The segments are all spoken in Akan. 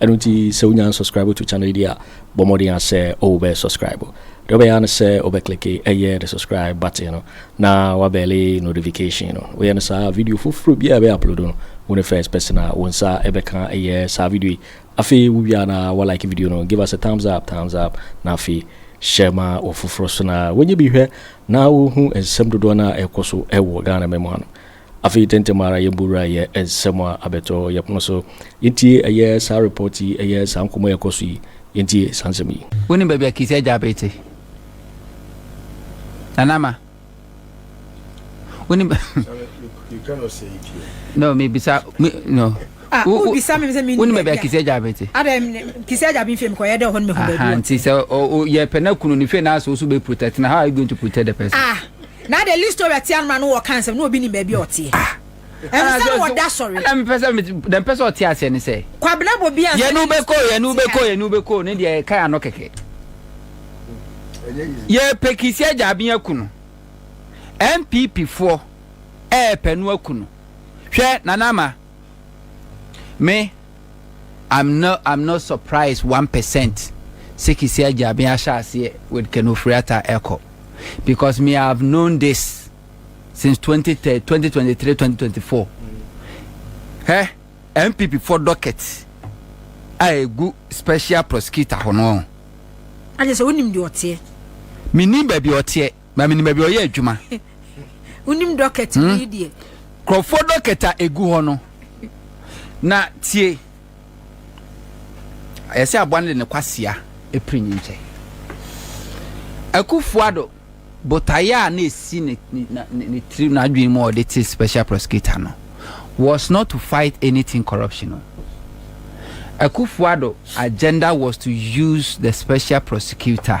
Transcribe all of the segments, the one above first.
Ɛno nti sɛ wonya unsubscribe to channel yi deɛ a, bɔ mmɔden ara sɛ wo bɛ subscribe. Deɛ wobɛyɛ ara ne sɛ wo bɛ click ɛyɛ the subscribe button no na wa bɛlle notification no. Woyɛ no saa a, video foforɔ biara a yɛbɛ upload no, wo ne first person a wo nsa bɛka ɛyɛ saa video yi. Afei wo wie a na wa like video no, give us a thumbs up, thumbs up, na afei share ma wɔfoforɔ so na wɔnyɛ bi hwɛ na wɔhu nsɛm dodoɔ no a ɛrekɔ so wɔ Ghana mmamu ha no. Afei tɛntɛm ara yɛn bo wura yɛ nsɛm a abɛtɔ yɛ pono so. Yɛntie ɛyɛ saa report yi, ɛyɛ saa nkɔmmɔ yi a ɛkɔ so yi. Yɛntie saa nsɛm yi. Wonim baabi a Kissi agya Abee te? Nana Ama, wonim baabi a Kissi agya Abee te? Nti sɛ yɛpɛ no akunu no fie na asɛ wo so bɛ protect no, how are you going to protect the person? Na de Listora tia no ma no wɔ ɔka nsɛm na obi nim baabi a ɔteɛ. Ah! Ɛnso sɛ wɔ da sɔre. Ɛna mpɛ sɛ dɛ mpɛ sɛ ɔte aseɛ ne sɛ. Kwabena bɔ bi ansa. Yɛn no bɛkɔ yɛn no bɛkɔ yɛn no bɛkɔ ne deɛ ɛka ano kɛkɛ. Yɛ pɛ kisi agya abin aku no. NPP foɔ ɛɛpɛ no aku no. Hwɛ Nana Ama me. I'm not I'm not surprised one percent sɛ Kisi Agyaben ahyɛ aseɛ with Ken Ofori-Atta ɛkɔ because me I have known this since 2023 2024 hɛ NPP for docket a ɛgu special prosecutor hɔ no. Agye sɛ wonim deɛ ɔteɛ. Menim baabi ɔteɛ. Ba menim baabi ɔyɛ adwuma. Wonim dɔkɛt hmm? bi deɛ. Nkurɔfoɔ dɔkɛt a ɛgu hɔ no. Na tie. Ayɛ sɛ aboa no de ne kwasea ɛpiri ne nkyɛ. Akufuado botaeɛ a na ɛsi ne ne tiri n'adwene mu a ɔde te special prosecutor no was not to fight anything corruption no. Akufuado agenda was to use the special prosecutor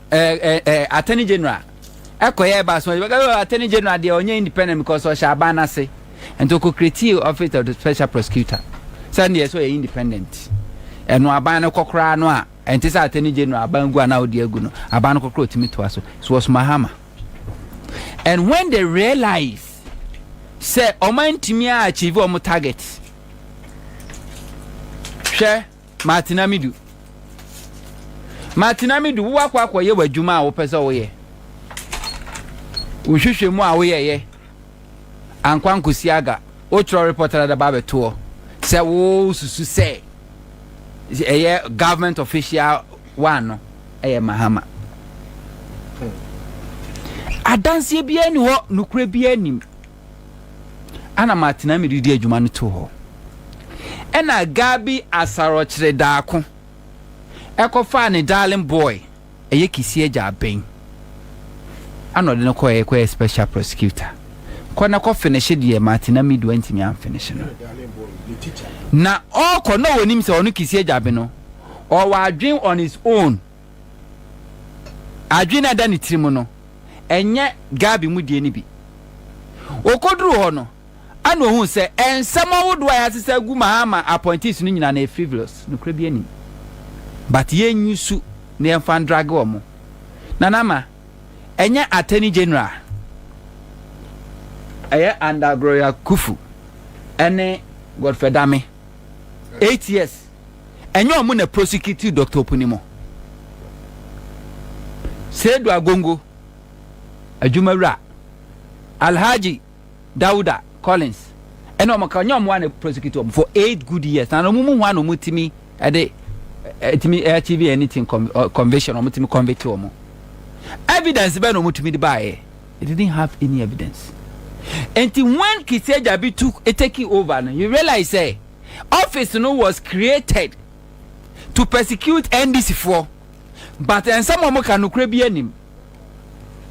ɛɛ ɛɛ ɛɛ attorney general ɛkɔyɛ ɛba so ɛbɛka ɛɛ attorney general deɛ ɔnyɛ independent because ɔhyɛ aban n'ase nti ɔkɔ create office of the special prosecutor sɛn deɛ sɛ ɔyɛ independent ɛno aban no kɔ koraa no a ɛnte sɛ attorney general aban gu a na ɔde agu no aban no kɔ koraa ɔtumi toa so so was mahama and when they realize sɛ ɔman ntumi a achieve ɔmo target hwɛ. Martin Amidu Martin Amidu, wo akɔ akɔyɛ w'adwuma a wopɛ sɛ woyɛ. Wo nhwehwɛmu a woyɛeɛ ankɔ ankɔsi aga. Wotwerɛ report ara de ba abɛtoɔ sɛ wosusu sɛ ɛyɛ government official one no ɛyɛ Mahama. Adanseɛ biara nni hɔ, nokorɛ biara nnim. Ana matena me redi adwuma no too hɔ. Ɛna Gabi Asarɔkyere Daako ɛkɔfaa ne darling boy ɛyɛ Kisii agya Aben ɛna ɔde no kɔɛ kɔyɛ special prosecutor. Kɔ na kɔ finishe deɛ matena me do antumi anfinishe no. Na ɔɔkɔ na ɔnim sɛ ɔno Kisii agya Aben no ɔwɔ adwen on his own. Adwene a ɛda ne tirim no, ɛnyɛ Gabi mu deɛ no bi. Ɔkɔduruu hɔ no, ɛnna ɔhuu sɛ nsɛm ahodoɔ a yɛasesa agu Mahama appointees no nyinaa no yɛ frivolous, nokorɛ biara nnim. But yɛnyi su na yɛmfa ndrage wɔn. Nana Ama, ɛnyɛ Attorney General a ɛyɛ under Gloria Kufu ne Godfrey Dame. Eight years ɛnyɛ ɔmo na prosecutew Doctor Opunimo. Seidu Agongo adwumawura Alhaji Dauda Collins ɛna ɔmo ka ɔnyɛ ɔmo a na prosecutew ɔmo for eight good years na ɔmo mu hwan na ɔmo tumi ɛde ɛtumi achieve anything conviction ɔmo tumi convict ɔmo evidence bɛn na ɔmo tumi de baayɛ. He didn't have any evidence. Enti when Kisi Agyabi took taking over no, he realized sɛ office no was created to persecute NDC foɔ but nsɛm a wɔka nokorɛ biara nnim.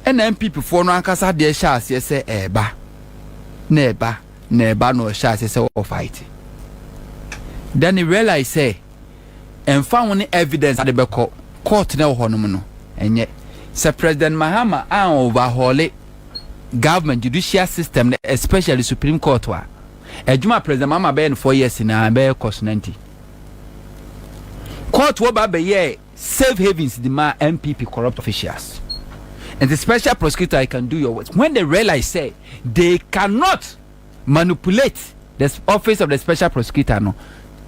Ɛna NPP foɔ no ankasa deɛ hyɛ aseɛ sɛ ɛɛba na ɛɛba na ɛɛba na ɔhyɛ aseɛ sɛ ɔfight. Then he realized sɛ. ɛmfa ho ne evidence a wɔde bɛkɔ court na ɛwɔ hɔnom no, ɛnyɛ sɛ President Mahama a overhaule government judicial system no especially Supreme Court a adwuma a President Mahama bɛyɛ no four years nyinaa ɛbɛyɛ kɔ so nanti court wɔ ba bɛyɛɛ safe havens de ma NPP corrupt officials. And the special prosecutor, I can do your work. When they realize, say, they cannot manipulate the office of the special prosecutor no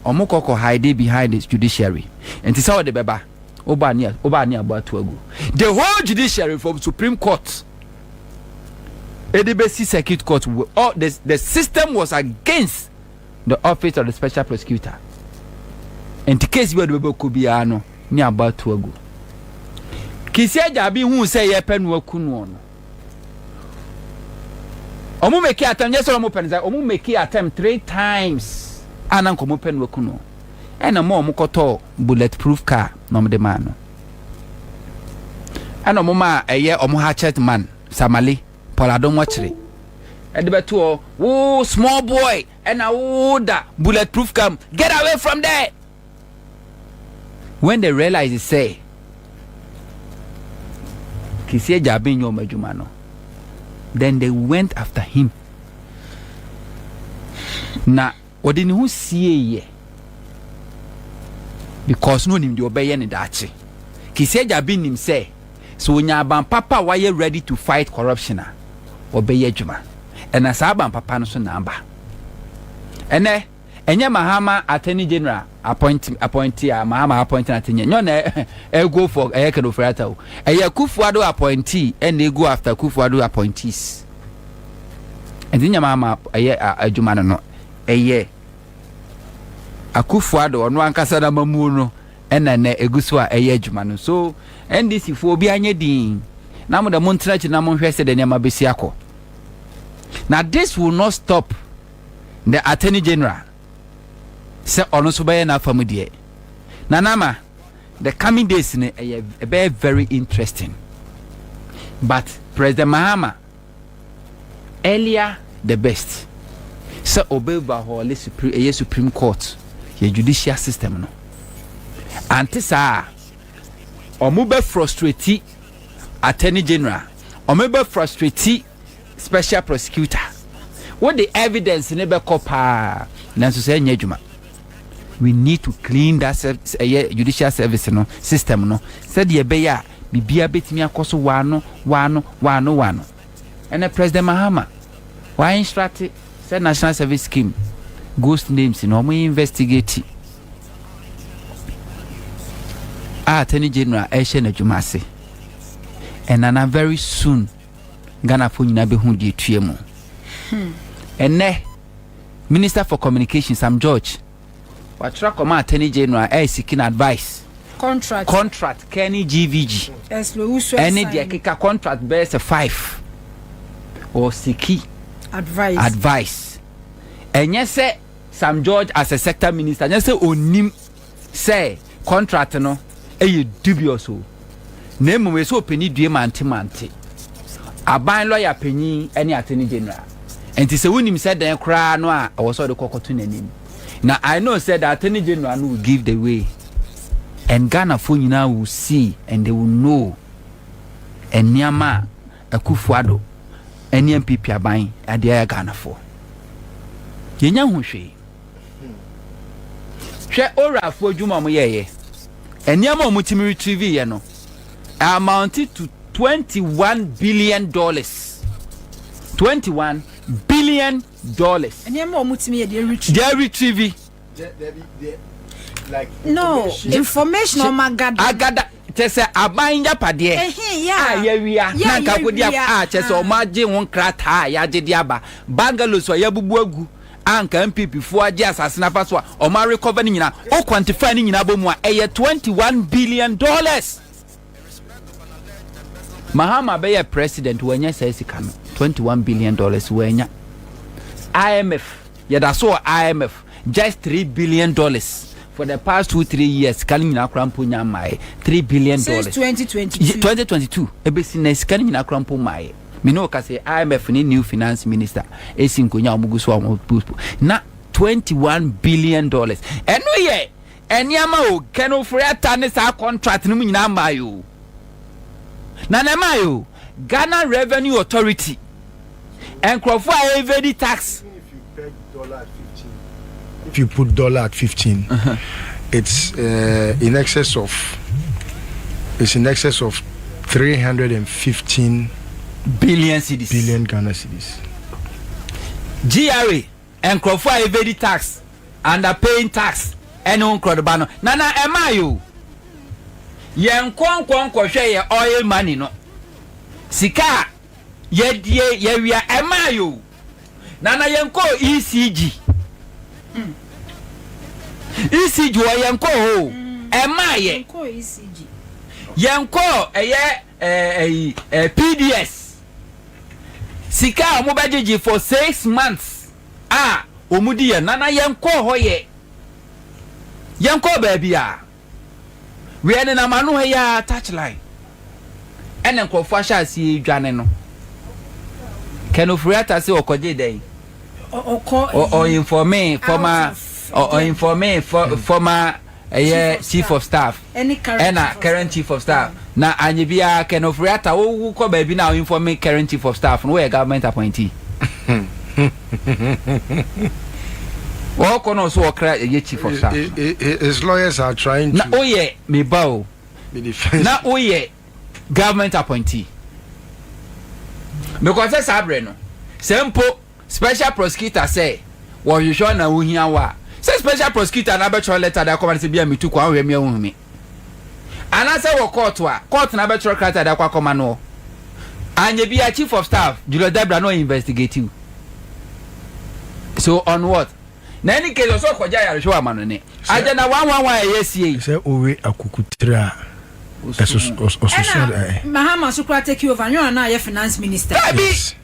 ɔmo kɔ kɔ hide behind the judiciary nti sɛ ɔde bɛba woba ne woba ne abo ato agu the whole judiciary from supreme court ɛde bɛsi circuit court all the the system was against the office of the special prosecutor nti case bi a ɔde bɛba kɔ biara no ne abo ato agu kisi agya bi hu sɛ yɛpɛ no aku no no ɔmo make attempt nyɛ sɛ ɔmo pɛ no sɛ ɔmo make attempt three times a na nka ɔmo pɛ no aku no ɛna ɔmo a ɔmo kɔtɔɔ bullet proof car na ɔmo de maa no ɛna ɔmo maa ɛyɛ ɔmo hatchet man samale pɔlado nwɔkyere ɛde bɛto hɔ wo small boy ɛna wo da bullet proof car mu get away from there When they realize sɛ Kisi agya ben nyɛ wɔn adwuma no, then they went after him. Na ɔde ne ho sieeɛ because na onim deɛ ɔbɛyɛ ne daakye. Kisi agya ben nim sɛ sɛ onya aban papa a wayɛ ready to fight corruption a ɔbɛyɛ adwuma. Ɛna saa aban papa no so na aba. Ɛnɛ Ɛnyɛ Mahama Attorney General appoint appointee a Mahama appointing ate nyɛ nyɛ na ɛ go for ɛyɛ Ken Ofori Atta o. Ɛyɛ Kufuor-Addo appointee ɛna ɛ go after Kufuor-Addo appointees. Ɛnti nyɛ Mahama ɛyɛ adwuma no no ɛyɛ Akufuor-Addo ɔno ankasa n'amamuo no ɛna ɛnɛ egu so a ɛyɛ adwuma no. So NDC foɔ obi anyɛ din na mo dɛ mo ntena akyiri na mo nhwɛ sɛdeɛ nneɛma bɛsi akɔ. Na this will not stop. the Attorney General sɛ ɔno nso bɛyɛ n'afa mu deɛ. Nana Ama, the coming days no ɛyɛ ɛbɛyɛ very interesting but President Mahama earlier the best sɛ ɔbɛoverhaule supre ɛyɛ Supreme Court yɛ judicial system no ante saa a wɔbɛfrustrate Attorney General wɔbɛfrustrate Special prosecutor wo de evidence no bɛkɔ paa nanso sɛ ɛnyɛ adwuma we need to clean that ɛyɛ judicial service no system no sɛdeɛ ɛbɛyɛ a biribiara bɛtumi akɔ so waano waano waano waano ɛnɛ president mahama wa instructe sɛ national service scheme ghost names no wɔn investigate a attorney general ɛhyɛ n'adwuma ase ɛnana very soon Ghanafoɔ nyinaa bɛhu deɛ ɛtua mu. Ɛnnɛ, Minister for Communication Sam George watwerɛ akɔma Attorney General a ɛyɛ seeking advice contract contract kɛne GVG ɛne deɛ keka contract bɛyɛ sɛ five or siki advice advice ɛnyɛ sɛ Sam George as a sector minister ɛnyɛ sɛ ɔnim sɛ contract no yɛ dubious o, na mmom ɛsɛ sɛ ɔpɛni due mante mante, aban lɔya panyin ne Attorney General. Nti sɛ wonim sɛ dɛn koraa no a ɛwɔ sɛ ɔde kɔ kɔto n'anim. Na I know sɛ the Attorney General no will give the way and Ghanafoɔ nyinaa will see and they will know nneɛma a Akuffo Addo ne NPP aban de ayɛ Ghanafoɔ. Yɛnya ho hwee. Hwɛ Orafoɔ adwuma a wɔyɛeɛ. Nneɛma a wɔtumi retrieveeɛ no amounted to twenty one billion dollars. Twenty one billion dollars. Nneɛma a wɔtumi yɛ deɛ retrieve. Deɛ retrieve. No information a wɔagada. Agada kyɛ sɛ aban yapadeɛ. A yɛwia na nka kodi a kyɛ sɛ wɔagye ho nkrataa a yɛagye de aba. Bungalows a yɛabubu agu. a nka NPP foɔ agye asase no afa so a ɔmo a recover no nyinaa o quantify no nyinaa bɔ mu a ɛyɛ twenty one billion dollars Mahama bɛyɛ president wanya saa sika no twenty one billion dollars wanya IMF yɛda so wɔ IMF just three billion dollars for the past two three years sika no nyinaa kora mpo nya mmaeɛ three billion dollars since twenty twenty two twenty twenty two ebesi na sika no nyinaa kora mpo mmaeɛ. Me ne wo ka sɛ IMF ne new finance minister esi nkonya a wɔn gu so a wɔn postpo na twenty one billion dollars ɛno yɛ nneɛma o kɛnɛ ofori ata ne saa contract no mu nyinaa mmaa yi o na na ɛmaa yi o Ghana Revenue Authority nkurɔfoɔ a ɛvedi tax. If you put dollar at fifteen, it's uh, in excess of it's in excess of three hundred and fifteen billion cedis. Billion Ghana cedis. GRA nkurɔfoɔ a evade tax under paying tax ɛne ho nkurɔdoba no nana ɛmaa yɛ o yɛn nkɔnkɔnkɔhwɛ yɛ oil money no sika a. Yɛdie yɛwia ɛmaa yɛ o. Nana yɛn kɔ ECG. Mm. ECG wɔ yɛn kɔ hɔ o. Mm. Ɛmaa yɛ. Yɛn kɔ ECG. Yɛn kɔ ɛyɛ ɛyi eh, eh, PDS. Sika a wɔn bɛ gyegye for six months a wɔn di yɛn. Nana yɛn kɔ hɔ yɛ. Yɛn kɔ baabi a. Wiɛ nenam ano ha yi ara touch line ɛna nkurɔfoɔ ahyɛ aseɛ redwane no. Ken Ofori-Atta se ɔkɔgyee dɛn? Ɔ informee former ɔ informee former ɛyɛ chief of staff ɛna current chief of staff na anyɛ biara Ken Ofori-Atta wo kɔ baabi na ɔ informee current chief of staff no woyɛ government appointee. Ɔɔkɔ na ɔso ɔkra ɛyɛ chief of staff. His lawyers are trying to. Na oyɛ me ba o. Na oyɛ government appointee. Because sɛ saa brɛ no, sɛ mpo special prosecutor sɛ wɔhwehwɛ na ohia wo a, sɛ special prosecutor no abɛtwerɛ letter de akɔma no sɛ bia metu kwan hwɛ me a ohun me. Anaasɛ ewɔ kɔɔto a, kɔɔto na abɛtwerɛ krataa de akɔ akɔma noɔ. Anyɛ bi a Chief of Staff, Julius Dabira na ɔinvɛstigate wo. So on what? Na any case ɔsɛ ɔkɔgye ayarehwɛ wɔ amanone. Agya na one one one a ɛyɛ asie yi. Sɛ owe akukutire a, ɛsoso. Ɛna Mahama nso koraa take over, nyɛ ɔno na na yɛ finance minister. Daabi!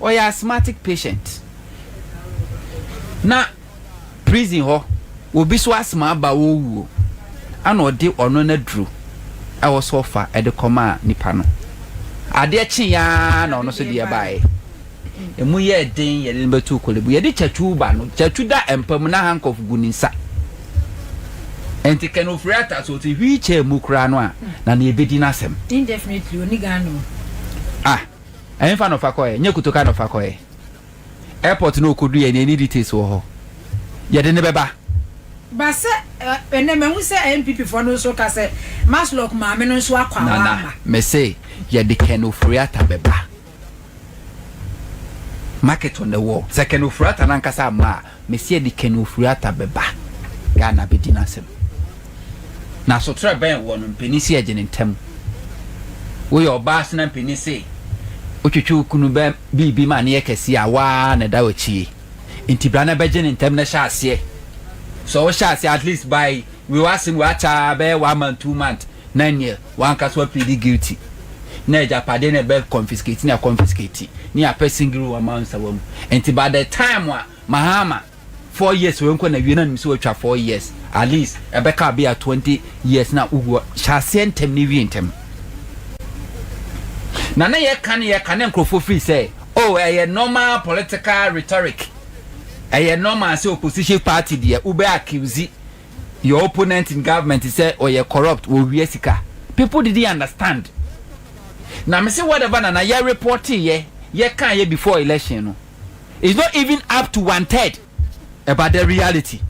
ɔyɛ asthmatic patient na prison hɔ obi so asthma aba ɔrewu o ɛna ɔde ɔno n'aduro ɛwɔ so ɔfa ɛde kɔmaa nipa no adeɛ kye yaa na ɔno so deɛ baeɛ ɛmu yɛ den yɛde no bɛtu kolebu yɛde kyatu ba no kyatu da mpa mu na handcuff gu ne nsa nti kɛn ofiri ata so ɔte wheelchair mu koraa no a na na yɛbɛdi n'asɛm indefinitely oniga no ah Ɛhefa na ɔfa kɔɛ? Nyɛ Kotoka na ɔfa kɔɛ. Airport na ɔkɔduiɛ na ɛni details wɔ hɔ. Yɛde no bɛba. Ba sɛ ɛnɛ mahu sɛ NPP foɔ no nso ka sɛ Maslock maame no nso akɔ a Nana, wamma. mese yɛde Ken Ofori-Atta bɛba. Market on the wall. Sɛ Ken Ofori-Atta no ankasa amma a, Mesi adi Ken Ofori-Atta bɛba Ghana abɛdi n'asɛm. Na asotrɛ bɛn wɔ no mpanin se ɛgye ne ntam? Woyɛ ɔbaa se na mpanin se wotwetwe wo kunu bɛ biribi ma no yɛ kɛseɛ a, wo ara na ɛda w'akyie. Nti bra na bɛgye ne ntam na hyɛ aseɛ. Sɛ wohyɛ aseɛ at least by wei w'asem wei akyɛ ara bɛyɛ one month, two month na ɛneɛ. Wanka so wa plead guilty na agyapade na ɛbɛ confiscate na confiscate ne apɛ singiri wa ma nsawa mu nti by the time a mahama four years wɔ nkɔ na wie na nim so watwa four years at least ɛbɛ ka bi a twenty years na ugu hyɛaseɛ ntɛm ne wie ntɛm na ne yɛ ka ne yɛ ka ne nkurɔfoɔ firi sɛ oh ɛyɛ normal political rhetoric ɛyɛ normal sɛ opposition party deɛ wobɛ accuse your opponent in government sɛ ɔyɛ corrupt wɔ wia sika people didn't understand na me se whatever na na yɛ report yɛ yɛ kaa yɛ before election no is not even up to one third about the reality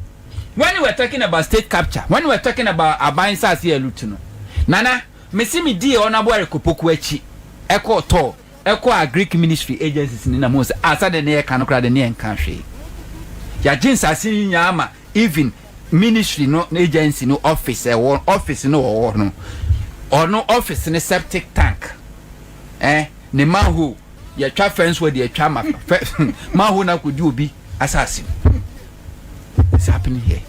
when we were talking about state capture when we were talking about aban nsase yɛ loot no nana me se me die ɔnabo ɛrekɔpoku akyi ɛkɔ ɔtɔ ɛkɔ a Greek ministry agencies ni na mo sɛ asade ne yɛ ka no kora de ne yɛ nka hwee yɛagye nsase nyinaa ma Even ministry no agency no office ɛwɔ office no ɔwɔ no ɔno office no septic tank eh ne manhole yɛtwa fence wɔ de atwa ma manhole na kodi obi asase it's happening here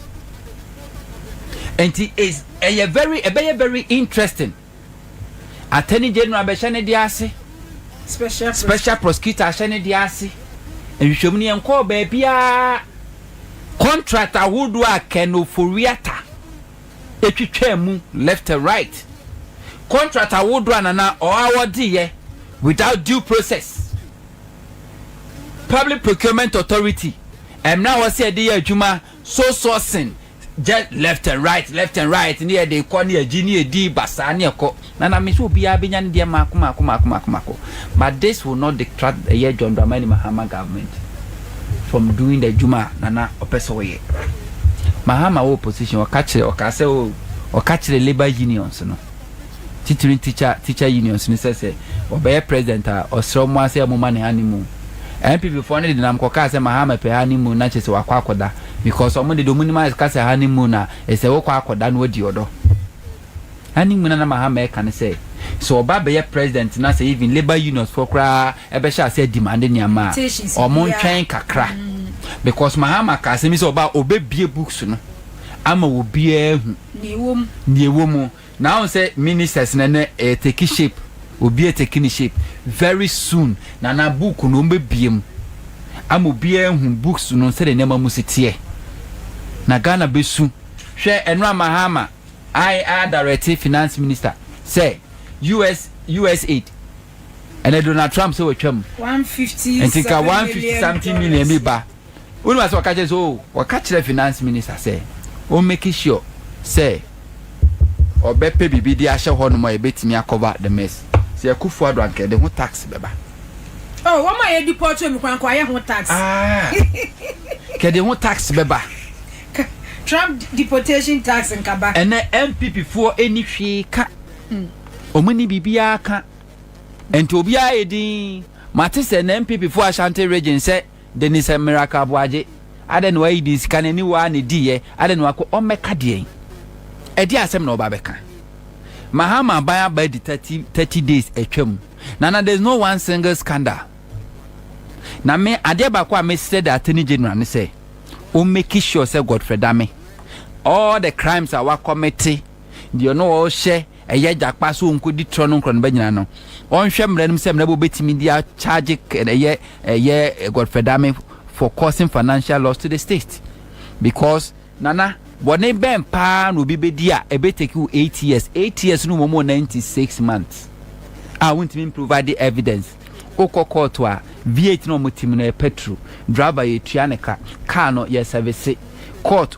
nti is ɛyɛ very ɛbɛyɛ very interesting. Attorney General bɛhyɛ ne deɛ ase, Special Prosecutor ahyɛ ne deɛ ase, nhwehwɛmu no yɛnkɔɔ baabiara, contract ahodoɔ a Ken Ofori-Atta twitwaa mu left and right, contract ahodoɔ a Nana awɔdeeɛ without due process, Public Procurement Authority, mmerɛ a ɛwɔ sɛ yɛde yɛ adwuma So so sen jɛ left and right left and right ne yɛde kɔ ne yɛgye ne yɛdi basaa ne ɛkɔ na na me sɛ obiara bɛnya ne deɛ maako maako maako maako maako but this will not detract ɛyɛ John Dramani Mahama government from doing the adwuma a nana ɔpɛ sɛ ɔyɛ Mahama wɔ opposition ɔka kyerɛ ɔka sɛ o ɔka kyerɛ labour unions no titiri teacher teacher unions no sɛ sɛ ɔbɛyɛ president a ɔsrɛ ɔmo a sɛ ɔmo ma ne honeymoon. NPP foɔ no de denam kɔkaa sɛ Mahama pɛ honeymoon na kyerɛ sɛ wakɔ akɔda because ɔmo de deɛ ɔmo nim ara ka sɛ honeymoon a ɛsɛ wokɔ akɔda na wadi ɔdɔ. Honeymoon a na Mahama ɛka ne sɛ sɛ ɔba abɛyɛ president na sɛ even labour unions foɔ koraa ɛbɛhyɛ aseɛ ademande nneɛma a ɔmo ntwɛn kakra because Mahama kaa asɛm bi sɛ ɔba a ɔbɛbue books no ama obiara ahu. Nea ɛwɔ mu. Nea ɛwɔ mu. Na woahu sɛ ministers no ɛnnɛ ɛyɛ take shape. Obiara retake ne shape. Very soon Nana book no wɔbɛbue mu ama obiara ahu books no sɛdeɛ nneɛma mu si teɛ. Na Ghana bɛsu. Hwɛ Enram Mahama a adirɛte finance minister sɛ US USAID ɛnɛ Donald Trump sɛ watwa mu. One fifty seven million dollars. Nti nka one fifty something million bi ba. Wonim asɛ ɔka kyerɛ sɛ oh wɔka kyerɛ finance minister sɛ ɔn make sure sɛ ɔbɛpɛ biribi de ahyɛ hɔ nom a ɛbɛtumi a cover the mess sɛ Akufo Addo anka ɛde ho tax bɛba. Oh wɔn a yɛ deport wɔn koraa anka wɔayɛ ho tax. Ah ka ɛde ho tax bɛba. Ka Trump deportation tax nka ba. Ɛnɛ NPP foɔ ɛnni hwee ka wɔn nni biribiara ka nti obiara yɛ dinn mate sɛ ɛnɛ NPP foɔ Ashanti region sɛ. Denise Miracle Aboagye, adɛn na wayi din sika no aniwa ara na ediiɛ, adɛn na wakɔ ɔmmɛka deɛn? Ɛdeɛn asɛm na ɔba abɛka? Mahama aban aba adi thirty thirty days atwa mu na na there is no one single scandal. Na me adeɛ baako a mesrɛ the Attorney General ne sɛ ɔmmeki sure sɛ Godfrey Dame all the crimes a wakɔmete deɛ ɔno ɔhyɛ Ɛyɛ agya paa sɛ ɔnkɔdi trɔ no nkorɔnoba nyinaa no ɔnhwɛ mmara no mu sɛ mmara bi a ɔbɛtumi de akyagye ɛyɛ ɛyɛ Godfrey Dame for causing financial loss to the state because Nana, bɔne bɛn paa na obi bɛdi a ɛbɛtake wo eight years, eight years no mmom wɔ ninety six months a wontumi mprovide evidence, wokɔ kɔɔto a V8 na wɔtim no yɛpɛ turu, driver yɛtua ne ka, car no yɛsɛvese, court.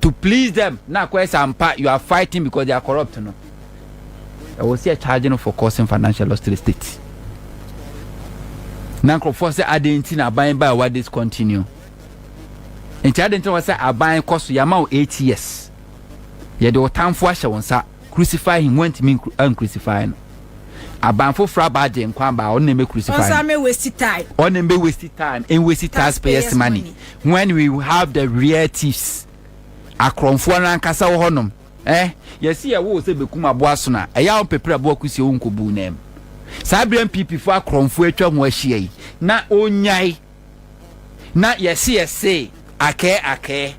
to please them na akɔyɛ sɛ ampa you are fighting because they are corrupt no ɛwɔ sɛ charge no for causing financial loss to the state na nkurɔfoɔ sɛ adɛn nti na aban baa wa discontinue nti adɛn nti na wɔ sɛ aban kɔ so yɛama wo 8 years yɛde wo tamfo ahyɛ wo nsa Crucify him wɔntumi ancrucify no aban foforɔ aba agye nkwa aba ɔno na ɛmɛ crucify ɔnsa mɛ waste time ɔno mɛ waste time and waste taxpayers money when we have the real thieves akorɔmfoɔ no ankasa wɔ hɔnom eh yɛsi yɛ wo sɛ bɛkum aboa so na ɛyɛ wɔn pɛpere aboa kusi wɔn nkɔbu nam saa berɛ mpp fo akorɔmfoɔ atwa ho ahyia yi na ɔnyae Na yɛse yɛse akɛɛ akɛɛ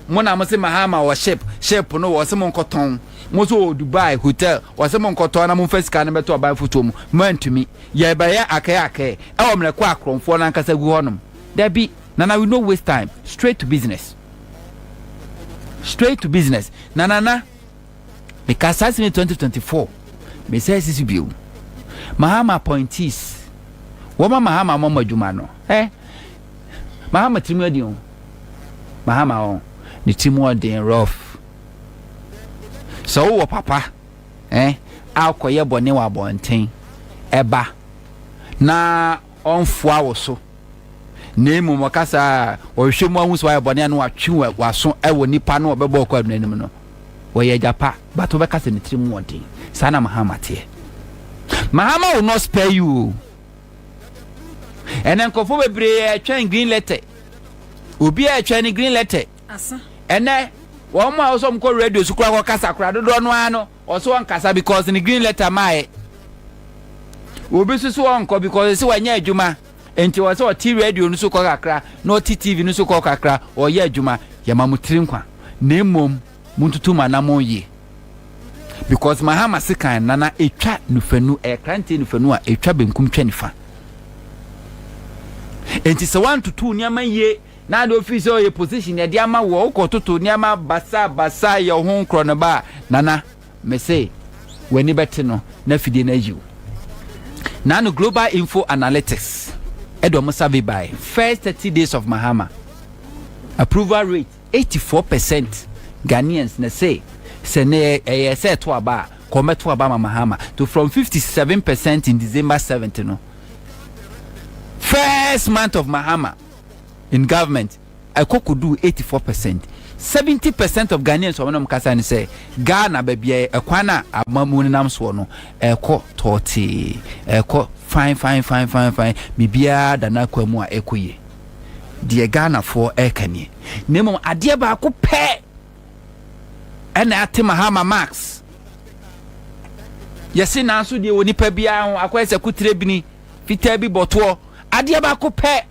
mo na mose Mahama wɔ ship ship no wɔse mo nkɔtɔn mose ɔwɔ Dubai hotel wɔse mo nkɔtɔn na mo mfa sika no bɛto aban fotuo mu mo antumi yɛbɛyɛ akɛɛ akɛɛ ɛwɔ mmerɛ kɔ akorɔmfoɔ no ankasa gu hɔ nom dabi nana we no waste time straight to business straight to business na nana Meka saa asɛm yi 2024. Mesan si so bio. Mahama appointees. Wɔma Mahama ama mo adwuma no. Ɛ Mahama tirim ɔden o. Mahama o. Ne tirim ɔden rough. Sɛ wowɔ papa ɛ akɔyɛ bɔne wɔ abɔnten ɛba na ɔmfoa wo so, na mmom ɔkasa a, ɔhwehwɛ mu ahu sɛ wayɛ bɔne a na watwe w'aso wɔ nnipa no a ɔbɛbɔ ɔkɔ abena anim no. Ɔyɛ agya pa, but wobɛka sɛ ne tiri mu wɔ den. Saa na Mahama teɛ. Mahama will not spare you o. Ɛnɛ nkurɔfoɔ bebree ɛtwɛn green letter. Obi a ɛtwɛn ne green letter. Ɛnɛ wɔn a wɔsɔ wɔn kɔ radio so koraa kɔ kasa koraa dodoɔ no ara no. Ɔse ɔnkasa because ne green letter maaɛ Obi so se ɔnkɔ because ɔse wanya adwuma nti ɔse ɔte radio no so kɔ kakra na ɔte TV no so kɔ kakra ɔyɛ adwuma Yɛma mo tiri nkwa na mmom montutu mo anamɔn yie because Mahama sekan nana ɛtwa nufanu ɛyɛ kranteɛ nufanu a ɛtwa benkum twa nifa nti sɛ woantutu nneɛma yie Na ade ofi sɛ ɔyɛ position yɛde ama wo a wokɔ toto nneɛma basa basa yɛ wo ho nkorɔnoba a Nana mese w'ani bɛte no na fidie no ayi wo. Nano Global Info Analytics de wɔn survey bae first thirty days of Mahama approval rate eighty four percent Ghanaians na se sɛ ne ɛyɛ sɛ ɛto aba a kɔ mɛto aba ma Mahama to from fifty seven percent in December seventh no first month of Mahama in government ɛkɔ kɔduu 84 percent 70 percent of Ghanaians wɔn na wɔn kasa no sɛ Ghana baabi a ɛkwan a amamu no nam soɔ no ɛkɔ tɔɔtee ɛkɔ fine fine fine fine fine biribiara da n'akwan mu a ɛkɔ yie deɛ Ghanafoɔ ɛka nie na mmom adeɛ baako pɛ ɛna ate Mahama Max yɛse nanso deɛ wɔ nipa biara ho akɔyɛ sɛ kotire bini fitaa bi bɔtoɔ, adeɛ baako pɛ,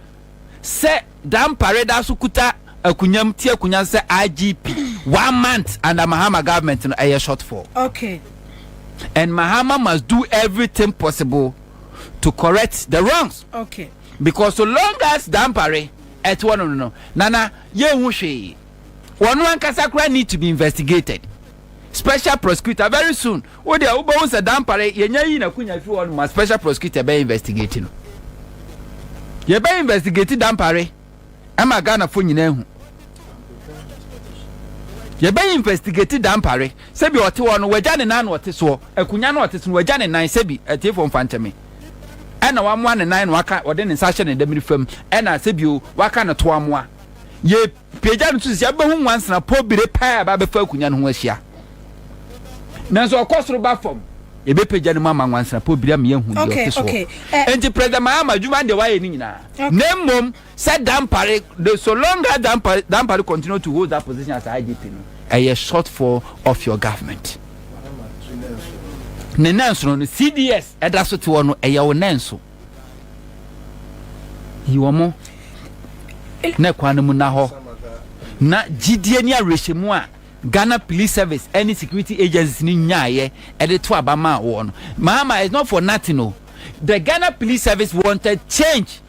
sɛ Dampare reda so kuta akunya mu te akunya no sɛ IGP one month under Mahama government no ɛyɛ short fall. Okay. And Mahama must do everything possible to correct the wrongs. Okay. Because so long as Dampare ɛte hɔ no no, Nana, yɛnhu hwee. Wɔn ankasa koraa need to be investigated. special prosecutor very soon wo deɛ wobɛhu sɛ dampare yɛnya yi nakunya fi hɔ no ma special prosecutor bɛ investigate no yɛbɛ investigate dampare ɛma Ghanafo nyina ahu yɛbɛ investigate dampare sɛbi ɔte hɔ no wagya ne nan na ɔte soɔ akunya no ɔte so no wagya ne nan sɛbi atiefo mfa nkyɛme ɛna wamoa ne nan na waka ɔde ne nsa hyɛ ne damiri fam ɛna sɛbio waka ne to amoa yɛ Pagya no to sisi a, wobɛhu nwansena pɔ bire paa a ɛba bɛfa akonnwa no ho ahyia. Nanso ɔkɔ soro ba fam. Yɛbɛpagya no mu ama nwansena pɔ bire ama yɛahu deɛ ɔte soɔ. Enti President Mahama, adwuma deɛ wayɛ no nyinaa, na mmom sɛ Dampare, the so long as Dampare, Dampare continue to hold that position as IGP no, ɛyɛ shortfall of your government. Ne nanso no, CDS ɛda so te hɔ no, ɛyɛ wo nanso. Yi wɔn na kwan no mu na hɔ na gyidie ne awerɛhyɛmu a Ghana Police Service ne security agencies no nyaeɛ de to aba maa wɔn no maama it's not for nothing o the Ghana Police Service wanted change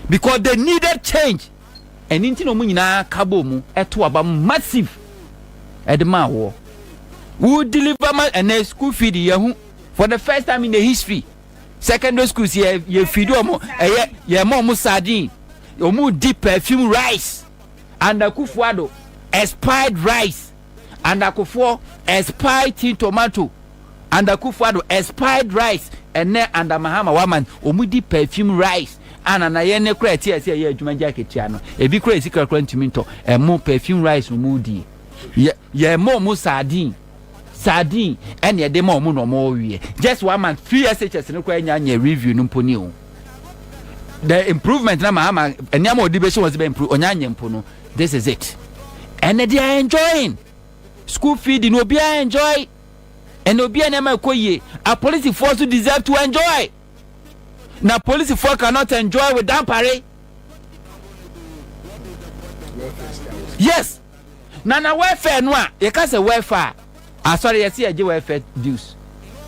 because they needed change ɛne nti na wɔn nyinaa ka bɔ mu to aba massive ɛde maa wɔ wo deliver ma ɛnɛ school feed yɛ ho for the first time in the history secondary schools yɛ yɛ feed wɔn ɛyɛ yɛ ma wɔn sardine wɔn di perfume rice and akufuado expired rice and akofoɔ expired tin tomato and akufuado expired rice ɛnɛ and mahama waman wɔn di perfume rice ana na yɛn ne kora ɛte ɛsɛ ɛyɛ adwuma gya ketewa no ebi kora esi kora kora ntumi ntɔ ɛmo perfume rice wɔn di yɛ yɛ ma wɔn sardine. Sardine ɛna ɛde ma wɔn na wɔn ɔwie just one month free SHS no koraa nya nyɛ review no mpo ni o the improvement na maa ma nneɛma ɔde bɛhyɛ wɔn sɛ bɛ improve ɔnya nyɛ mpo no this is it ɛna they are enjoying school fee di na obiara enjoy ɛna obiara nneɛma ɛkɔ yie apolisifoɔ nso deserve to enjoy na polisifoɔ cannot enjoy with dampare yes. Na na welfare no a yɛka sɛ welfare a asɔre yɛse yɛgye welfare dues,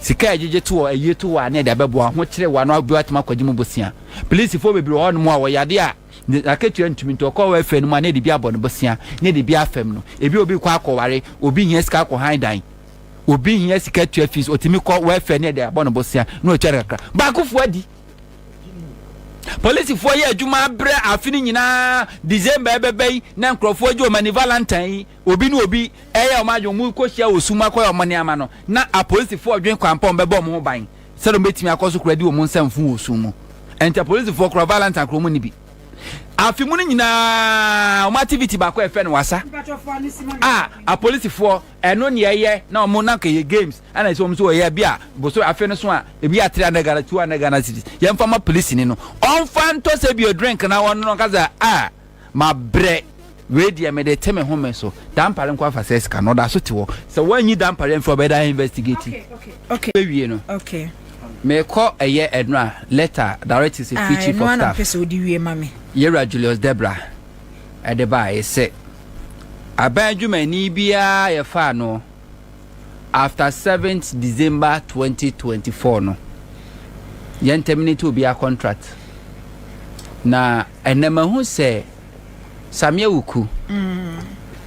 sika a yɛgyegye to wɔ ayie to wɔ a na yɛde abɛboa wɔn ho kyere wɔn ano adodoɔ atumi akɔgye mu bosea. Polisifoɔ bebree wɔ hɔnom a wɔyɛ adeɛ a n'akatua ntumi nti ɔkɔ welfare no mu a na yɛde bi abɔ no bosea na yɛde bi afɛm no. Ebi a obi rekɔ akɔware, obi hia sika akɔ han dan, obi hia sika tua fees, ɔtumi kɔ welfare na yɛde abɔ no bosea na watwa no kakra. Baakofoɔ adi. polisifoɔ yɛ adwuma abrɛ afe no nyinaa december ɛbɛbɛ yi na nkurɔfoɔ gye ɔmani valentine yi obi ne obi ɛyɛ ɔmo adwene ɔmo kɔ hyia wɔ sum akɔyɛ ɔmo nneɛma no na apolisifoɔ dwen kwan pɔn bɛbɔ ɔmo ho ban sɛ ɔmo bɛtumi akɔ so kora di ɔmo nsa mfu wɔ sum mu ɛnti apolisifoɔ kora valentine kora ɔmo ne bi afe mu no nyinaa ɔmo activity baako ɛfɛ no wasa a apolisifoɔ Ɛno ne ɛyɛ na ɔmo na nka ɛyɛ games ɛna ɛsɛ ɔmo so ɔyɛ ebi a bosome afe no so a ebi yɛ three hundred Ghana two hundred Ghana cedis yɛn fa ma polisini no ɔnfa ntɔ sɛ bi o drink na ɔno no ɔka sɛ ah ma brɛ wei deɛ me de te me home so dampare nko afa sɛ sika no ɔda so te hɔ sɛ wɔn anyi dampare nfiri ɔbɛ da investigate bɛ wie no me kɔ ɛyɛ ɛno a letter directive sɛ free chief of staff yɛwura Julius Debra ɛde ba a ɛsɛ. Aban dwumani biara a yɛfaa no after seventh December twenty twenty four no, yɛn terminate obiara contract. Na ɛnna mahu sɛ Samia Wuku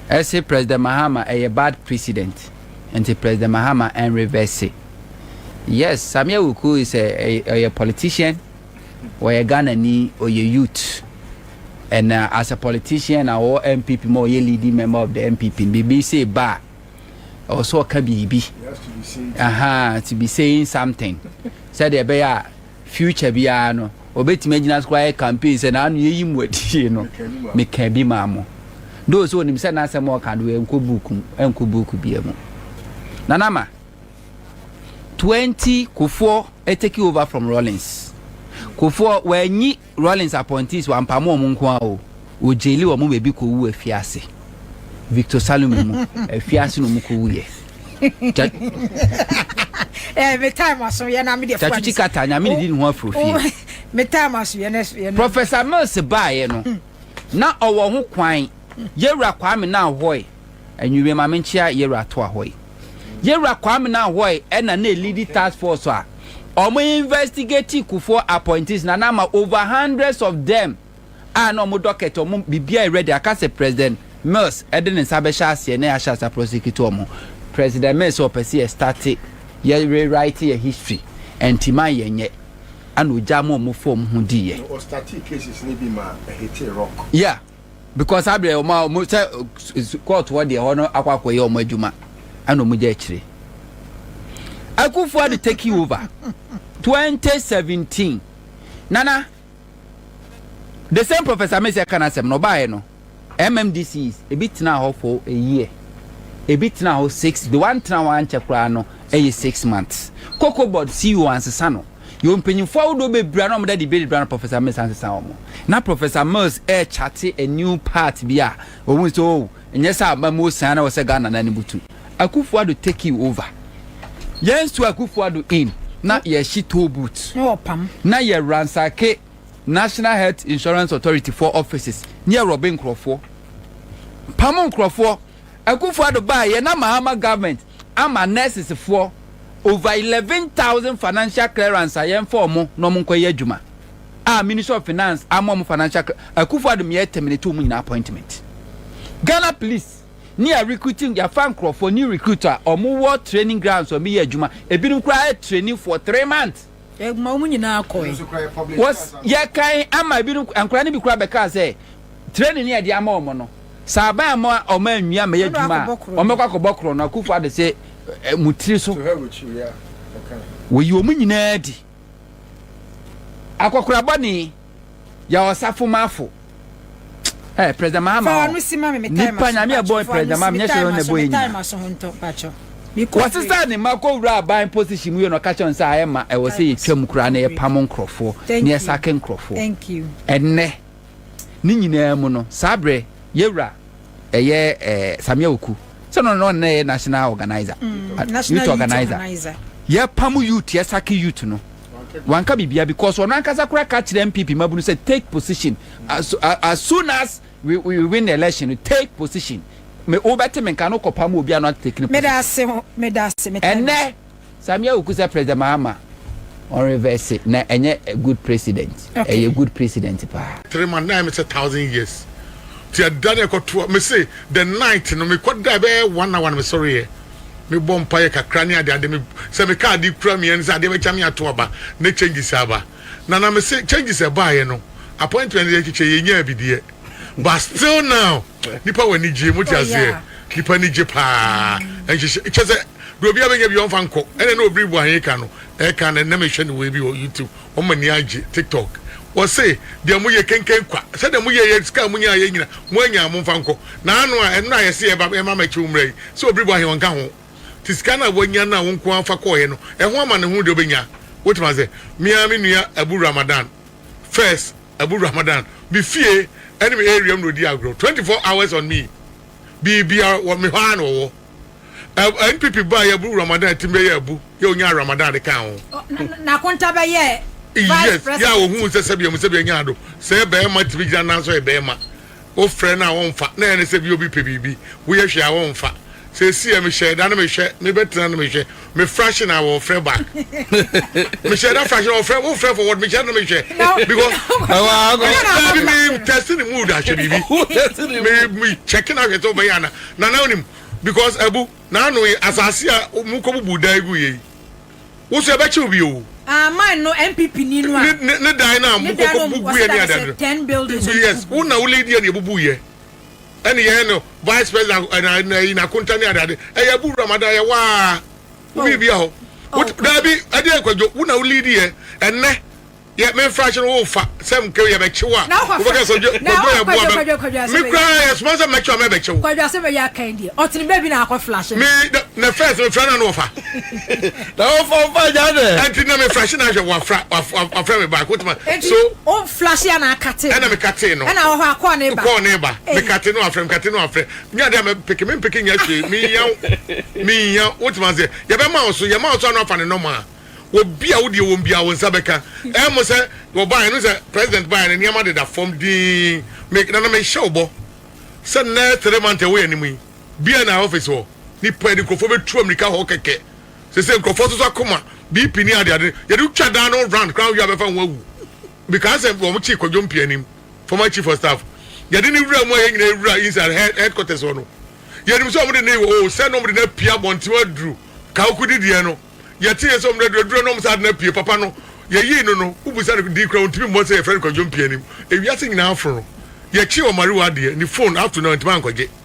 ɛse mm. President Mahama ɛyɛ bad president, nti President Mahama ɛn reverse. Yes, Samia Wuku is a ɛyɛ politician. ɔyɛ Ghana ni ɔyɛ youth and as a politician na ɔwɔ NPP ma ɔyɛ leading member of the NPP biribi sɛ ba a ɛwɔ sɛ ɔka biribi aha to be saying something sɛdeɛ ɛbɛyɛ a future biara no ɔbɛtumi agyina so koraa yɛ campaign sɛ naano yɛyi mu adie no meka bi maa mo do sɛ ɔnim sɛ n'asɛm ɔka do ɛnkɔ buuku ɛnkɔ buuku bia mu nanama 20 Kufuor take over from Rawlings Kufuor wanyi Rawlings appointees wampamo wɔn nko ara o, wɔgyeli wɔn ma ebi kɔwu afiase Victor Salome mu afiase na wɔkɔwuiɛ. Eh, me time aso yɛ na me deɛ fuwa nisa. kata nyame ne di ne ho afro fie. Oh, me time aso yɛ na yɛ na. Professor Mills baayɛ no hmm. na ɔwɔ ho kwan yɛwura Kwame na ahoɔe. Anwummere ma me nkyea Yewura Toahoe. Yewura Kwame Nanhoe ɛna na elidi task force a ɔmo investigate Kufuor appointees na na ama over hundreds of them a na ɔmo docket ɔmo biribiara yɛ ready aka sɛ President Mills ɛde ne nsa bɛhyɛ aseɛ na yɛahyɛ ase a prosecute ɔmo. President Mills sɛ ɔpɛ sɛ yɛ start yɛ rewrite yɛ history ɛnti ma yɛ nyɛ ɛna ogyaa ma ɔmo faa ɔmo ho diiɛ. Na ɔ startee cases no bi ma ɛhitee rock. Yeah. because saa berɛ ɔma ɔmo sɛ court hɔ deɛ hɔ no akɔ akɔyɛ ɔmo adwuma ɛna ɔmo gya akyire Akufo Addo taking over 2017 nana the same professor Messi ɛka n'asɛm na ɔbaeɛ no MMDCs ebi tena hɔ for a year ebi tena hɔ six the one tena hɔ ankyɛ koraa no ɛyɛ six months cocoa board CEO ansesa no Yɛwɔ mpanyimfo ahodoɔ bebree a na wɔda debate bra na Professor Mills ansesa wɔn. Na Professor Mills ɛrekyate a new part bi a ɔhuu sɛ oh, ɛnyɛ sɛ aba mu osian na ɛwɔ sɛ Ghana nan butu. Akuffo Addo take you over. Yɛn so Akuffo Addo in na yɛhye toe boot na yɛ ransake National Health Insurance Authority foɔ offices na yɛ rɔbe nkorɔfoɔ. Pam nkorɔfoɔ. Akuffo Addo baaeɛ na Mahama government ama nurses foɔ over eleven thousand financial clearance a yɛn fa ɔmo na ɔmo nkɔ yɛ adwuma a ministry of finance ama ɔmo financial cl akufo adum yɛ terminate ɔmo nyinaa appointment Ghana police ne yɛ recruiting yɛ fa nkorɔfoɔ new recruit a ɔmo wɔ training grounds ɔmo yɛ adwuma ebinom koraa yɛ training for three months. Ɛma wɔn nyinaa kɔe. Wɔs, yɛkan ama ebinom, nkwadaa no bi koraa bɛkaa sɛ, training no a yɛde ama wɔn no, sɛ aban amma wɔn anwie ammɛyɛ Ɛna adwuma a, akɔbɔ korɔn. wɔbɛkɔ akɔbɔ korɔn no. Akufo Addo se, eh, mo tiri so. Wɔyi wɔn nyinaa di. Akɔkora bɔne. yɛ ɔsafo mafo ɛ president mahama ɔ nipa nyame ɛbɔ ɛ president mahama nyɛ hyɛ ɔna ɛbɔ yɛ nyina wɔsesa ne ma kɔ wura aban position mu yɛ na ɔka kyɛn sɛ ayɛ ma ɛwɔ sɛ yɛtwa mu koraa na yɛpam nkorɔfoɔ na yɛsake nkorɔfoɔ ɛnɛ ne nyinaa mu no saa berɛ yɛwura ɛyɛ eh, samia oku sɛ no na ɔnna yɛ national organizer mm, youth organizer yɛpam youth yɛsake youth no wanka biribiara because ɔno ankasa koraa ka kyerɛ NPP mmabunu sɛ take position as, as soon as we, we win the election no take position me wobɛte me nka no kɔpa mu obi a no ate taking position. Meda ase ho meda ase me time. Ɛnɛ Samia Wuku sɛ president Mahama on reverse na ɛnyɛ good president ɛyɛ good president paa. Three months na ɛmɛ sɛ thousand years ti ɛda na ɛkɔtoa me se the night no mekɔ da bɛyɛ one hour no mesɔre yɛ. Me bɔ mpaeɛ kakra ne adeade me sɛ me car de kura me ani sɛ adeɛ bɛkya me ato aba ne changes aba na na me se changes ɛbaeɛ no appointment yɛ kyekyɛ yɛ nyaa bi deɛ but still now nipa wɔ ani gye mo te aseɛ nipa ani gye paa nhyehyɛ kyɛ sɛ deɛ obi abɛnya bi ɔmfa nkɔ ɛna na obiri bu ahe ka no ɛka na na me hwɛ ne wei bi wɔ youtube Wɔn ani agye tiktok. Wɔse deɛ moyɛ kenken kwa. Sɛdeɛ moyɛeɛ sika a monyaeɛ nyina moanyaa momfa nkɔ. Na ano a ɛno na yɛse yɛba yɛma mɛkye wo mmra yi sɛ obiribo ahe ɔnka ho. Te sika no a woanya no a wo nko ara fa kɔeɛ no ɛho amane hunu deɛ wobɛnya. Wotema ase. Me ara me nua Abu Ramadan first Abu Ramadan me fie ɛne me area mu na ɔdi agorɔ. Twenty four hours on me. Biribiara wɔ me hɔ ara na ɔwɔ. Ɛ NPP baa yɛ buru Ramadan tim bɛ yɛ abu yɛ onyaa Ramadan de kaa ho. O na na konta bɛ yɛ vice president. Yes yɛ a ohun nsɛ sɛ bia mu sɛ bia nyaa do sɛ yɛ bɛɛma timi gyina nan so yɛ bɛɛma wo frɛ no a ɔnfa na yɛ ne sɛ bia obi pɛ biribi wo yɛ hwɛ a ɔnfa sɛ esi yɛ me hyɛ da no me hwɛ me bɛ tena no me hwɛ me fraction a wɔfrɛ back mehyɛ da fraction wɔfrɛ wofrɛ for what mehyɛ no mehwɛ because dabi me test ne mood ahwɛ biribi me me check no ahwɛ sɛ wobɛyɛ ana na na wonim because abu na ano yi asase a mu kɔ bubu dan gu yɛ yi wo so ɛbɛkyew bi o ah, man no npp ni no a ne dan no a mu kɔ bubu yɛ ne adadro yes wo na wo lady ne bubu yɛ Ɛne yɛyɛ no vice president ɛna eh, ɛyi na akonta ne adade ɛyɛ bu wura mada yɛ waa obi oh. bi a hɔ oh, daabi ɛde ɛkwadwo wo na wo lead yɛ ɛnɛ yɛ me nfa ahyɛ no wo fa sɛ mke yɛ bɛkye wo a wobɛka sɛ kwadwo yɛ boa bɛ me kura yɛ soma sɛ mɛkye a mɛbɛkye wo kwadwo asɛ mɛyɛ aka yi deɛ ɔtene baabi na akɔ flash me na first me fra na no ɔfa na ɔfa ɔfa gya dɛ ɛnti na me fra hyɛ na ahwɛ wafra wafra me baako tuma so Flahyɛ na akate no. Ɛna mekatee no. Ɛna ɔhɔ a kɔɔ ne ba. Kɔɔ ne ba. Mekate no afrɛ, mekate no afrɛ. Nyɛ adeɛ a mɛmpeke, mɛmpeke nyɛ hwee, menhia wo, menhia wo. Wote maseɛ? Yɛbɛma wo so, yɛma wo so a na wafa ne nɔmaa. Obi a wo deɛ wɔm biara wo nsa bɛka. Ɛyɛ mo sɛ wɔbaeɛ no, sɛ President baeɛ no nneɛma deda fam dinn. Me, Nana mehyɛ wo bɔ sɛ nnɛ three months a ɛwɔ yɛn anim yi, BNI office hɔ, nnipa, nkurɔfoɔ bɛtu ammirika hɔ kɛkɛ. Sese nkurɔfoɔ soso akoma, BP ne adeade no, yɛde wo twa daa na wo run koraa anhwɛ a bɛfa wo awu. Mekaa sɛ wɔn kyee Kwadwo Mpianim, former chief of staff, yɛde no wura mu a yɛn nyinaa yɛwura inside head headquarters hɔ no, yɛnim sɛ wɔn de no wɔ oh sɛ na wɔn de no apue abɔnten aduru Kawuku di deɛ no, yɛteeɛ sɛ wɔn de no aduru aduru na wɔn saa de no apue papa no, yɛyii no no, wobisa no din koraa ɔntumi mmɔ sɛ yɛfrɛ no Kwadwo Mpianim, ewiase nyinaa aforo no, yɛkyee Omariwa adeɛ, ne phone up to now ntumi ankɔgye.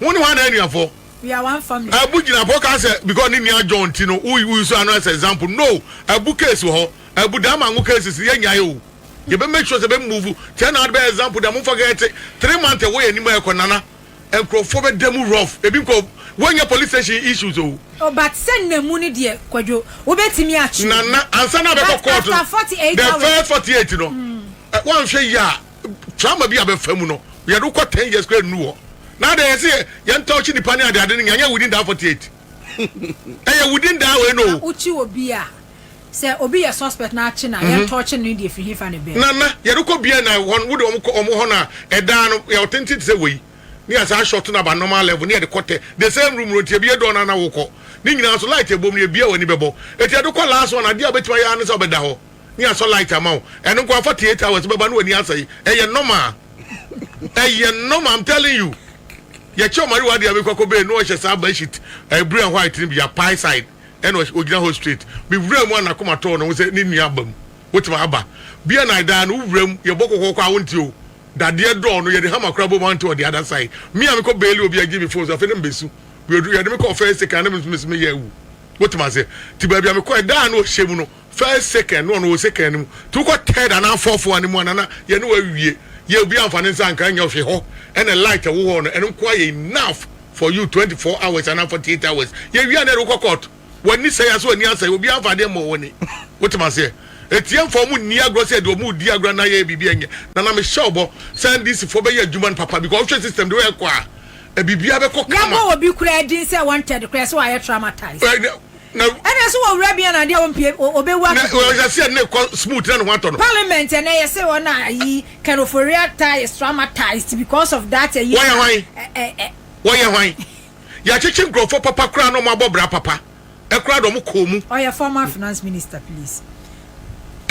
Wo ne hwan na anuafɔ? We are one family. Abu gyina hɔ ka sɛ because ne nua John nti no wo wo use ano as example no Abu case wɔ hɔ Abu da ama ngo cases no yɛ nyae o yɛ bɛ make sure sɛ bɛ move kyɛ na ade bɛ example da mo nfa kɛ te three month ɛwɔ yɛ nim a ɛkɔ nana nkurɔfoɔ bɛ da mu rough ebi nkɔ wɔ nyɛ police station issues o. Oh but sɛ nna mu no deɛ kwadwo wo bɛ timi atwi nana ansa na bɛ kɔ court no the first forty eight no wa nhwɛ yɛ a. trauma bi a bɛfa mu no yɛde kɔ ten years kura nnu hɔ na adɛ yɛ sɛ yɛn tɔɔkye nipa ne adeade no nyɛ nyɛ within that forty eight ɛyɛ within that way no. wokyi obi a sɛ obi yɛ suspect na akye na mhm. yɛn tɔɔkye no deɛ firi hifa ne bɛn. nana yɛde kɔ bia na wɔn wode wɔn kɔ wɔn hɔ na ɛdaa no yɛ ɔtenten te sɛ wei ne yasa short na ba normal level ne yɛde kɔ tɛ the same room no nti ebi yɛ dɔɔ na na wokɔ ne nyinaa so light ebom ne ebia wɔ ani bɛbɔ eti yɛde kɔ last one adeɛ a obetuma yɛ ano sɛ ɔbɛda hɔ. ne asɔ light ama wo ɛno nko ara fa thirty eight hours bɛba na w'ani asɛe ɛyɛ normal ɛyɛ normal I'm telling you yɛkyɛ ɔmari wɔ adeɛ a mekɔ kɔ bɛɛ no ɔhyɛ saa bedsheet ɛɛ blue and white no bi a pie side ɛna ɔhyɛ ogyina hɔ straight mewura mu a n'akoma tɔɔ ne ho sɛ ne nua aba mu wotumi aba bia na ɛdaa no wowura mu yɛbɔ kɔkɔkɔ a wonte o dadeɛ dɔɔ no yɛde hama kora bɔ mu ante ɔde ada sae me a mekɔ bɛɛli obi agye me phone so afei ne mbesu yɛde me kɔ first second ne mesomesome yɛ awu wotumi ase ti baabi a mekɔ ɛdaa no ɔhyɛ mu no First second no ɔno wɔ second no mu nti wokɔ third anaa fourth one no mu a nana yɛne wo awie yɛ obiara mfa ne nsa nka nyɛ hwe hɔ ɛna light ɛwɔ hɔ no ɛno nko ara yɛ enough for you twenty four hours anaa forty eight hours yɛwie a na yɛde wokɔ court w'ani sɛe ase w'ani asɛe obiara mfa adeɛ mmɔ w'ani wote m'aseɛ ɛtiɛ mfa ɔmo nni agorɔ sɛ deɛ ɔmo redi agorɔ anaa yɛyɛ biribi a ɛnyɛ nana mehyɛ ɔbɔ sɛ NDC foɔ bɛyɛ adwuma no papa because wohwɛ system de ɛkɔ a biribiara bɛkɔ kama. Yɛabɔ obi koraa din sɛ wanted koraa sɛ wayɛ traumatized. Na. Ɛna so wɔ wura bi ana adeɛ a ɔmpie ɔbɛwu akɔ fie. Na ɔhyɛseɛ na ɛkɔ smooth na ne ho atɔ no. Parliament ɛnɛ yɛse wɔn a ayi can oforiya tie is traumatized because of that ayi. Wɔyɛ hwan? Wɔyɛ hwan? Yɛakyekye nkurɔfoɔ papa koraa na wɔabɔ bra papa koraa de wɔn kɔɔ mu. Ɔyɛ former finance minister please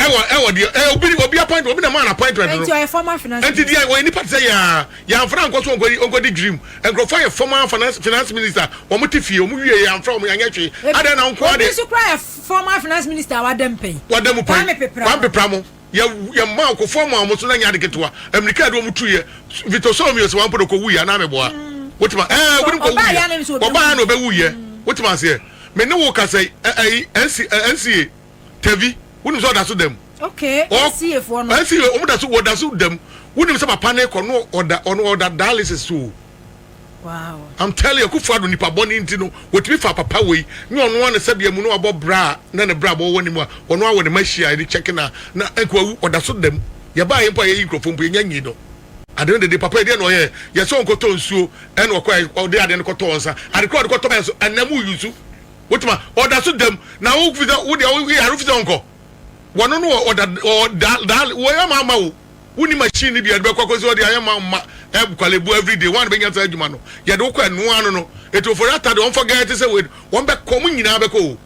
ɛwɔ ɛwɔ deɛ ɛ obi obi appointment obi na maa na appointment no. ɛnti ɔyɛ former finance minister. ɛnti deɛ ɔyɛ nipa ti sɛ yaa yanfra nkɔ so nkɔ nkɔ di dream nkurɔfoɔ yɛ former finance finance minister wɔn ti fie wɔn wie yanfra wɔn yanyɛ hwee adan na nko ade. obi nso kura yɛ former finance minister a wada mu pɛn. wada mu pɛn kwame pepra kwame pepra mo yɛ yɛ mmaa okofoɔ mu a wɔn so na nyɛ ade ketewa amirika yɛ de wɔn tu yɛ vito sɔɔ mi yɛ sɛ wɔn apɔ de kɔ wu yɛ anaa mi bɔ a mm. wotuma ɛɛ wɔn kɔ wu yɛ ɔbaa yɛ na ɔbɛ wu yɛ mm. wotuma aseɛ mɛ ne wo kasa ɛɛ nca. tɛvi wonim sɛ ɔda so dam okay nca foɔ no nca wɔn da so wɔda so dam wonim sɛ papa ne kɔ no ɔda ɔno ɔda dialysis so wow i'm telling you kufu ado nipa bɔ ne nti no wɔtumi fa papa wei nyɛ ɔno ano sɛdeɛ mu no abɔ bra na ne bra bɔ wɔ ne mu a ɔno awɔ ne ma hyia ne kyɛke na na nkoawu ɔda so dam yɛbaa yɛ mpo a yɛyi nkurɔfoɔ mpo yɛnya nyi no ade no dede papa ɛdeɛ na ɔyɛ yɛsɛ ɔnkɔtɔ nsuo ɛna ɔkɔ ɔde ade no kɔtɔ nsa ade kora ɔde kɔtɔ bɛyɛ so ɛnam yusu Wotuma ɔda so dam na wo fi sɛ wo deɛ wo yare fi sɛ ɔnkɔ. Wɔno no wɔ ɔda wɔ da da wɔ yɛ ma ma wo. Wo ni machine ni bi yɛde bɛkɔ akɔsi hɔ de ayɛ ma ma ɛb kwalebu every day wɔn bɛnya saa adwuma no yɛde wokɔ ɛnoa ano no etu ofori ata de wɔn fɔ gɛɛ te sɛ wei wɔn bɛkɔ wɔn nyinaa bɛkɔ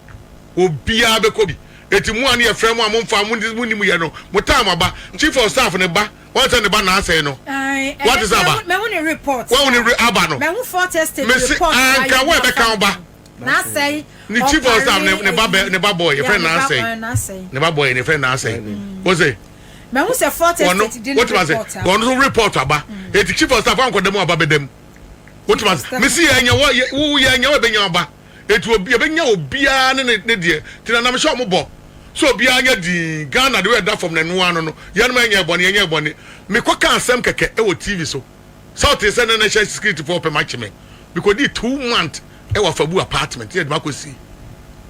o obiara bɛkɔ bi eti mu a ne yɛfrɛ mu a mo nfa mo mo ni mo yɛ no mo taa mo aba chief of staff ne ba wɔn sɛ ne ba na asɛe no wɔn te sɛ aba wɔn ne aba no mesi anka wɔn ɛbɛka wɔn ba. n'asɛe ne chief of staff ne ba bɛ ne ba boy efɛ n'asɛe ne ba boy efɛ n'asɛe o se. mɛ n sɛ fort estate di ne report a wɔn nso report aba mm. eti chief of staff ankɔ dɛm aba bɛ dɛm o tuma se mɛ si yɛ nya wɔ yɛ wo yɛ nya wɔ ebe nya ɔba eti obi ebe nya obiara ne ne ne deɛ tina nam hyɛ ɔmo bɔ so obiara nya dii ghana de yɛ da fam na ɛnoa no no yɛn mo ɛnyɛ ɛbɔne ɛnyɛ ɛbɔne mekɔ ka asɛm kɛkɛ ɛwɔ tv so. Saw tee sɛ na National Security foɔ repɛ makye me. Me kɔdii two month ɛwɔ Afabu apartment na yɛde makɔ si.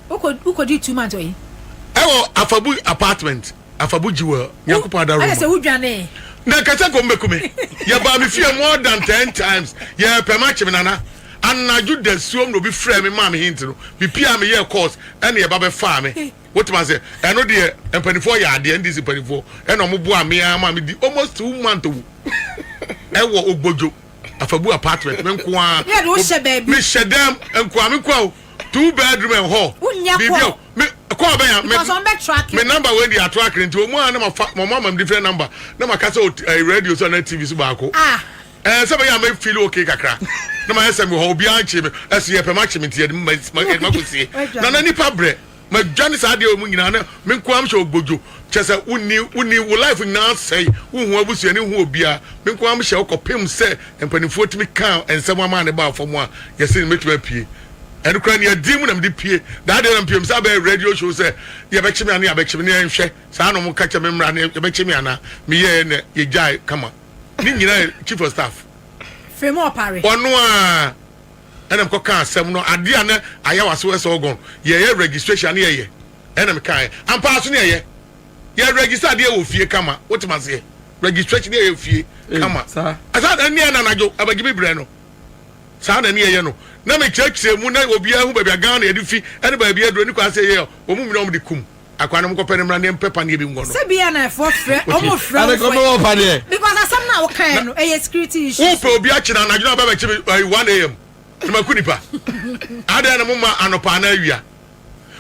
Wo kɔ wo kɔdii two month wɔ he? Ɛwɔ Afabu apartment, Afabu Jewel, Nyankopɔn Ada Roma. Ayɛ sɛ wo dwanee. Na ɛka sɛ kɔm bɛku me. Yɛbaa me fie more than ten times, yɛrepɛ makye me nana. Anadwo dasuom na obi frɛɛ me maa me hint no, me piaa me yɛɛ calls ɛna yɛba bɛfaa me. Wotumi ase ɛno deɛ mpanimfoɔ yɛ adeɛ ndc mpanimfoɔ ɛna wɔn boa me ara ma me di almost two months wo ɛwɔ ogbodwo afabu apartment me nko ara me hyɛ dɛm nko ara me nko ara o two bedroom and hall biribi o me kɔɔ bɛn ya me me number wei deɛ ato akere nti wɔn a na ma fa wɔn ama me different number na ma kasa o radio so na tv so baako. Ah. Ɛɛ sɛ bɛyɛ a mɛ feel okay kakra na ma yɛ sɛ mewɔ hɔ obiara nkyee me ɛso yɛ pɛ ma kye me nti yɛde ma kɔ sie na na nipa brɛ ma dwa ne saa deɛ mu nyinaa na me nko am hyɛ ogbojo kyɛ sɛ wonni wonni wo life nyinaa sɛe wo hu abusua ne hu obiara me nko am hyɛ ɔkɔ pem sɛ mpanifoɔ tumi kaa nsɛm ama ne baa fam a yɛ se ne mɛtumi apue ɛno kora ne adie mu na mede pue daa deɛ na mpue me sɛ abɛyɛ radio show sɛ yɛ bɛkye me ane yɛ bɛkye me ne yɛ nhwɛ saa na ɔmo ka kyɛ me mmra ne yɛ bɛkye me anaa me yɛɛ na yɛ gyae kama. ne nyinaa yɛ chief of staff firimu ɔpare ɔno a ɛna mekɔ ka asɛm no adeɛ a na ayɛ wase wɔ sɛ ɔgɔn yɛyɛ registration ne yɛyɛ ɛna meka ɛ ampaa so ne yɛyɛ yɛ register adeɛ wɔ fie kama wotem aseɛ registration ne yɛyɛ fie eh, kama ɛsaa na ne yɛ nanadwo abagye me berɛ no saa na ne yɛyɛ no na mekyerɛkyerɛ mu na obiara hu baabi a Ghana yɛde fi ɛne baabi aduro ne kwan sɛ yɛyɛ ɔmo nyina ɔmo de kum akwa no mokɔpɛ no mmra ne yɛmpɛ paneɛ bi nkɔ no sɛ bia na ɛfoɔ frɛ ɔmo frɛ wo fɛ because asɛm no a wokaeɛ no ɛyɛ security issue wopɛ obi akyena anadwo no abɛbɛkye me 1am na maku nipa adɛn na moma anɔpa anaa awia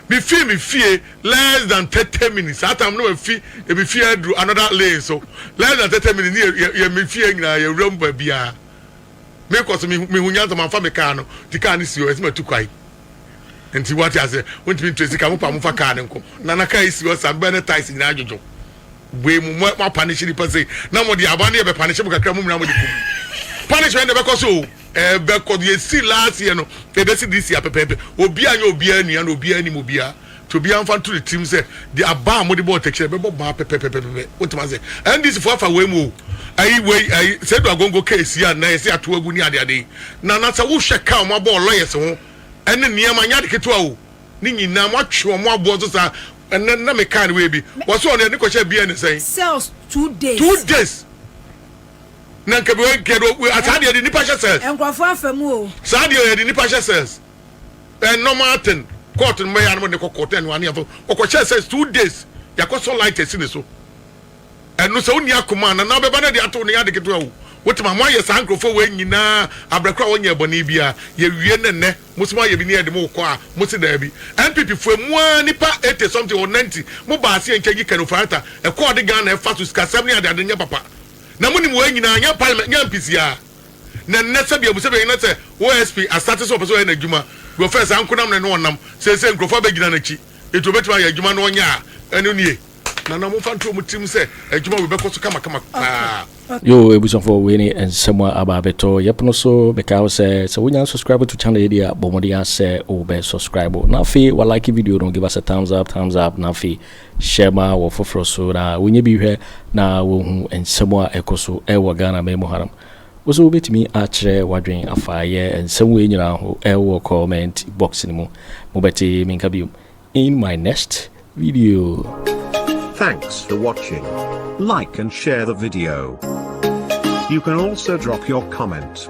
mefii me fie less than 30 minutes saa tam no mafi ebi fie aduru another lane so less than 30 minutes ne yɛ me fie nyinaa yɛwura mu baabiaa mekɔ so mehu nyansa mamfa me kaa no nti kaa no si hɔ ɛsɛ matu kwae nti wate ase wontumi ntua sika mopa mofa kaa no nkɔ na na kaa yi si hɔ saa bɛɛ ne tais nyinaa adwodwo bue mu mo apanehye nipa sei na mo de aboa no yɛ bɛpanehye mo kakra mo nyinaa mo de kum punishment na ɛbɛkɔ so o ɛbɛkɔ yɛsi last year no ɛbɛsi this year pɛpɛɛpɛ obi anyɛ obiara nua na obiara anim obiara Nti obiara mfa nto ne tirim sɛ deɛ aba a mode bɔ ɔtɛkyerɛ no ɛbɛbɔ baa pɛpɛpɛpɛpɛ. Wotem aseɛ? NDC foɔ afa wei mu o. Ayi wei ayi Seidu Agongo case yi a nnɛ yɛse yɛatow agu ne adeade yi. Nana sɛ wohwɛ ka a wɔn abɔ wɔ lawyers ho ɛne nneɛma nyɛ ade ketewa o. Ne nyinaa moatwe wɔn aboɔ so saa. Ɛnnɛ nnɛ mekae no wei bi wɔse ɔno yɛde no kɔhyɛɛ BN ne sɛn? Cells two days. Two days. Na nka wei nka yɛde asaa deɛ yɛde nnipa hyɛ cells. Nkurɔfoɔ afa mu o. Saa deɛ yɛde nnipa hyɛ cells. eh, normal thing court no bɛyɛ anam de kɔ court ɛnu ani afɔ ɔkɔ hyɛ sɛ two days yakɔ sɔ light ɛsi ne so ɛnu sɛ ɔni akoma na na bɛba na de ato ne yade ketewa o wote ma mo ayɛ saa nkurɔfoɔ wɔ nyinaa abirɛkora wɔn nyɛ ɛbɔne bi a yɛ wie ne nnɛ mo sɛ mo ayɛ bi ne yɛ de mo kɔ a mo se daabi npp fo emu a nipa eighty something or ninety mo ba ase nkyɛn yi kɛnɛ ofurata ɛkɔɔ de Ghana ɛfa so sikasɛm ne adeade nyɛ papa na mo nim wɔ nyinaa nyɛ parliament nyɛ mpisia. Na nnɛ sɛdeɛ abusabea nyina sɛ OSP asate sɛ ɔpɛ sɛ ɔyɛ n'adwuma deɛ ɔfɛɛ saa nkonam ne no ɔnam seesei nkurɔfoɔ abɛgyina n'akyi enti ɔbɛtumi ayɛ adwuma no ɔnyɛ a ɛno nie na na wɔmfa nto wɔn tirim sɛ adwuma wei bɛkɔ so kamakama paa. Yoo abusuafoɔ wei ne nsɛm a aba abɛtɔ yɛpono so mekae wo sɛ sɛ wonya unsubscribe to channel yi deɛ a bɔ mmɔden ara sɛ wobɛ subscribe na afei wa like video no give us a thumbs up thumbs up na afei hyɛ ma wɔ foforɔ so na wɔnyɛ bi hwɛ na wɔhu nsɛm a ɛkɔ so wɔ Ghana man mu hanom. Wo nso wobɛtumi akyerɛ w'adwene afa yɛ nsɛm wei nyinaa ho wɔ comment box no mu. Mobɛte me nka biom in my next video. Thanks for watching. Like and share the video. You can also drop your comment.